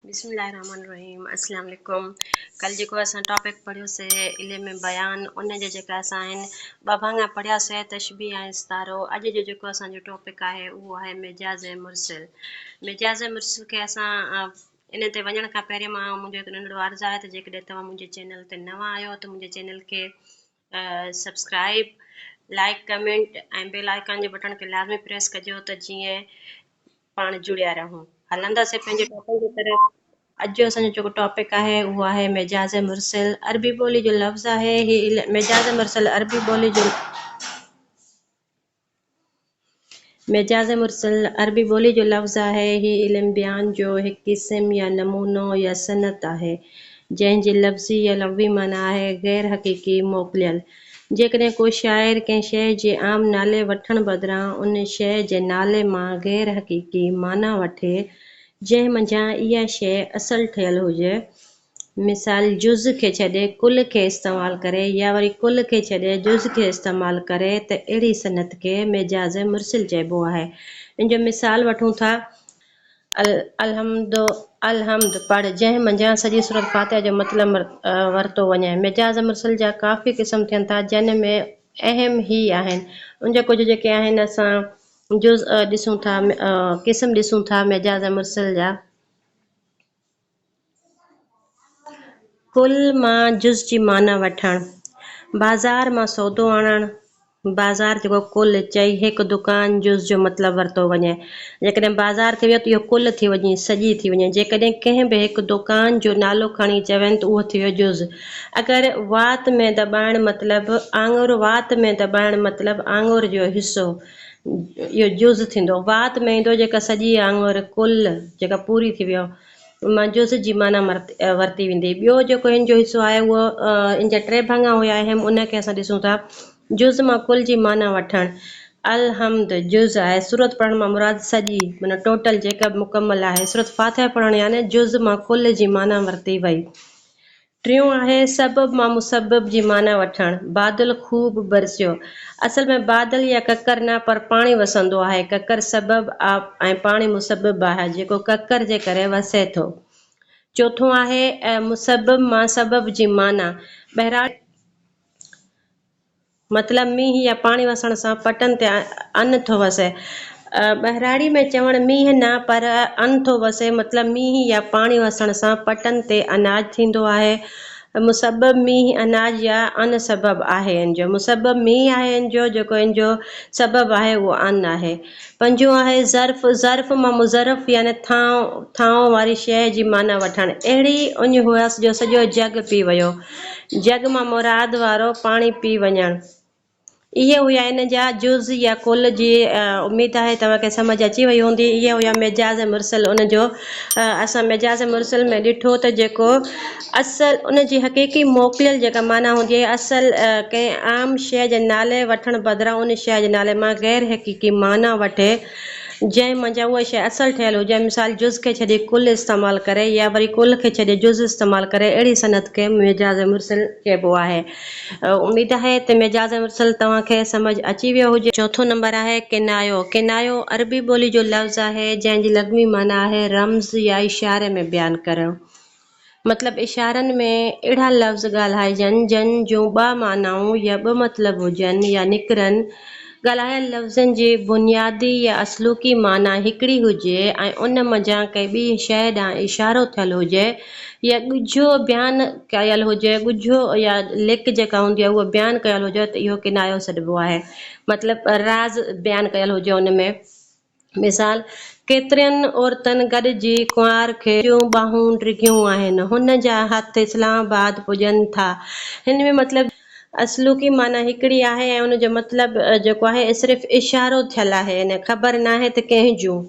بسم الله الرحمٰن الرحيم اسلام عليڪم ڪل جيڪو اسان ٽاپڪ پڙهيو سي علم بيان ان جا جيڪا اسان ٻه ڀاڱا پڙهيا سي تشبيه ۽ استعارو اڄ جو جيڪو اسان جو ٽاپڪ آهي اهو آهي مجاز مرسل مجاز مرسل کي اسان ان تي وڃڻ کان پهرين مان منهنجو هڪ ننڍڙو عرض آهي ته جيڪڏهن توهان منهنجي چينل تي نوان آهيو ته منهنجي چينل کي subscribe like comment ۽ bell icon جي بٽڻ کي لازمي پريس ڪجو ته جيئن پاڻ جڙيا رهون هلندا سي پنهنجي ٽاپڪ جي طرف. اڄ جو اسان جو جيڪو ٽاپڪ آهي اهو آهي مجاز مرسل عربي ٻولي جو لفظ آهي هي مجاز مرسل عربي ٻولي جو. مجاز مرسل، عربي ٻولي جو لفظ آهي. هي علم بيان جو هڪ قسم يا نمونو يا صنعت آهي، جنهن جي لفظي يا لغوي معنيٰ آهي غير حقيقي، موڪليل. جيڪڏهن ڪو شاعر ڪنهن شيء جي عام نالي وٺڻ بدران ان شيء جي نالي مان غير حقيقي معنيٰ وٺي، جنهن منجهان اها شيء اصل ٺهيل هجي، مثال، جز کي ڇڏي ڪل کي استعمال ڪري يا وري ڪل کي ڇڏي جز کي استعمال ڪري ته اهڙي صنعت کي ميجاز مرسل چئبو آهي. ان جو مثال وٺون ٿا. الحمد، الحمد پڙهه جنهن منجهان سڄي سورة فاتحه جو مطلب ورتو وڃي. ميجاز مرسل جا ڪافي قسم ٿين ٿا جن ۾ اهم هي آهن. ان جا ڪجهه جيڪي آهن اسان جز ڏسون ٿا، قسم ڏسون ٿا ميجاز مرسل جا. ڪل مان جز جي معنيٰ وٺڻ، بازار مان سودو آڻڻ، بازار جيڪو ڪل چئي هڪ دڪان جز جو مطلب ورتو وڃي. جيڪڏهن بازار ٿي وڃي ته اهو ڪل ٿي وڃي، سڄي ٿي وڃي. جيڪڏهن ڪنهن به هڪ دڪان جو نالو کڻي چون ته اهو ٿي ويو جز. اگر وات ۾ دٻائڻ مطلب آڱر وات ۾ دٻائڻ مطلب آڱر جو حصو. اهو جز ٿيندو. وات ۾ ايندو جيڪا سڄي آڱر، ڪل، جيڪا پوري ٿي ويو، مان جز جي معنيٰ ورتي ويندي. ٻيو جيڪو هن جو حصو آهي اهو هن جا ٽي ڀڱا هيا اهم، ان کي اسان ڏسون ٿا. جز مان ڪل جي معنيٰ وٺڻ. الحمد جز آهي. سورت پڙهڻ مان مراد سڄي، معنيٰ ٽوٽل، جيڪا به مڪمل آهي. سورت فاتحه پڙهڻ يعني جز مان ڪل جي معنيٰ ورتي وئي. ٽيون آهي سبب مان مسبب جي معنيٰ وٺڻ. بادل خوب برسيو. اصل ۾ بادل يا ڪڪر نه پر پاڻي وسندو آهي. ڪڪر سبب آ۽ پاڻي مسبب آهي جيڪو ڪڪر جي ڪري وسي ٿو. چوٿون آهي، اي مسبب مان سبب جي معنيٰ. بهرحال، مطلب مينهن يا پاڻي وسڻ سان پٽن تي ان ٿو وسي. ٻهراڙي ۾ چوڻ مينهن نه پر ان ٿو وسي مطلب مينهن يا پاڻي وسڻ سان پٽن تي اناج ٿيندو آهي. مسبب مينهن اناج يا ان سبب آهي. ان جو مسبب مينهن آهي ان جو جيڪو ان جو سبب آهي اهو ان آهي. پنجون آهي ظرف، ظرف مان مظرف يعني ٿانء، ٿانء واري شيء جي معنيٰ وٺڻ. اهڙي اڃ هئس جو سڄو جڳ پي ويو. جڳ مان مراد وارو پاڻي پي وڃڻ. اهي هيا ان جا جز يا ڪل جي اميد آهي توهان کي سمجهه اچي وئي هوندي. اهي هيا مجاز مرسل ان جو اسان مجاز مرسل ۾ ڏٺو ته جيڪو اصل، ان جي حقيقي موڪليل جيڪا معنيٰ هوندي آهي، اصل، ڪنهن عام شيء جي نالي وٺڻ بدران ان شيء جي نالي مان غير حقيقي معنيٰ وٺي، جنهن منجهان اها شيء اصل ٺهيل هجي، مثال، جز کي ڇڏي ڪل استعمال ڪري يا وري ڪل کي ڇڏي جز استعمال ڪري، اهڙي صنعت کي مجاز مرسل چئبو آهي. اميد آهي ته مجاز مرسل توهان کي سمجهه اچي ويو هجي. چوٿون نمبر آهي ڪنايو. ڪنايو عربي ٻولي جو لفظ آهي، جنهن جي لغوي معنيٰ آهي رمز يا اشاري ۾ بيان ڪرڻ. مطلب اشارن ۾ اهڙا لفظ ڳالهائجن جن جون ٻه معنائون يا ٻه مطلب هجن يا نڪرن. ڳالهايل لفظن جي بنيادي يا اصلوڪي معنيٰ هڪڙي هجي ۽ ان منجهان ڪنهن ٻي شيء ڏانهن اشارو ٿيل هجي يا ڳجهو بيان ڪيل هجي، ڳجهو يا لڪ جيڪا هوندي آهي اهو بيان ڪيل هجي ته اهو ڪنايو سڏبو آهي. مطلب راز بيان ڪيل هجي ان ۾. مثال، ڪيترين عورتن گڏجي ڪنوار کي جون ٻانهون ڊگهيون آهن، هن جا هٿ اسلام آباد پڄن ٿا. هن ۾ مطلب اصلوڪي معنيٰ هڪڙي آهي ۽ ان جو مطلب جيڪو آهي صرف اشارو ٿيل آهي ۽ خبر ناهي ته ڪنهن جون.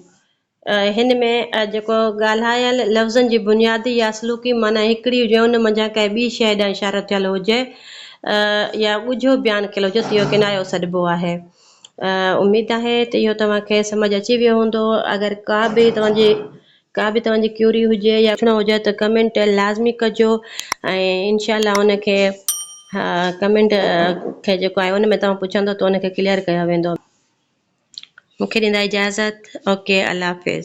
هن ۾ جيڪو ڳالهايل لفظن جي بنيادي يا اصلوڪي معنيٰ هڪڙي هجي ۽ ان منجهان ڪنهن ٻي شيء ڏانهن اشارو ٿيل هجي يا ڳجهو بيان ڪيل هجي ته اهو ڪنايو سڏبو آهي. اميد آهي ته اهو توهان کي سمجهه اچي ويو هوندو. اگر ڪا به توهان جي ڪا به توهان جي ڪيوري هجي يا پڇڻو هجي ته ڪمينٽ لازمي ڪجو ۽ انشاء الله ان کي ڪمينٽ کي جيڪو آهي ان ۾ توهان پڇندو ته ان کي ڪليئر ڪيو ويندو. مون کي ڏيندا اجازت اوڪي الله حافظ.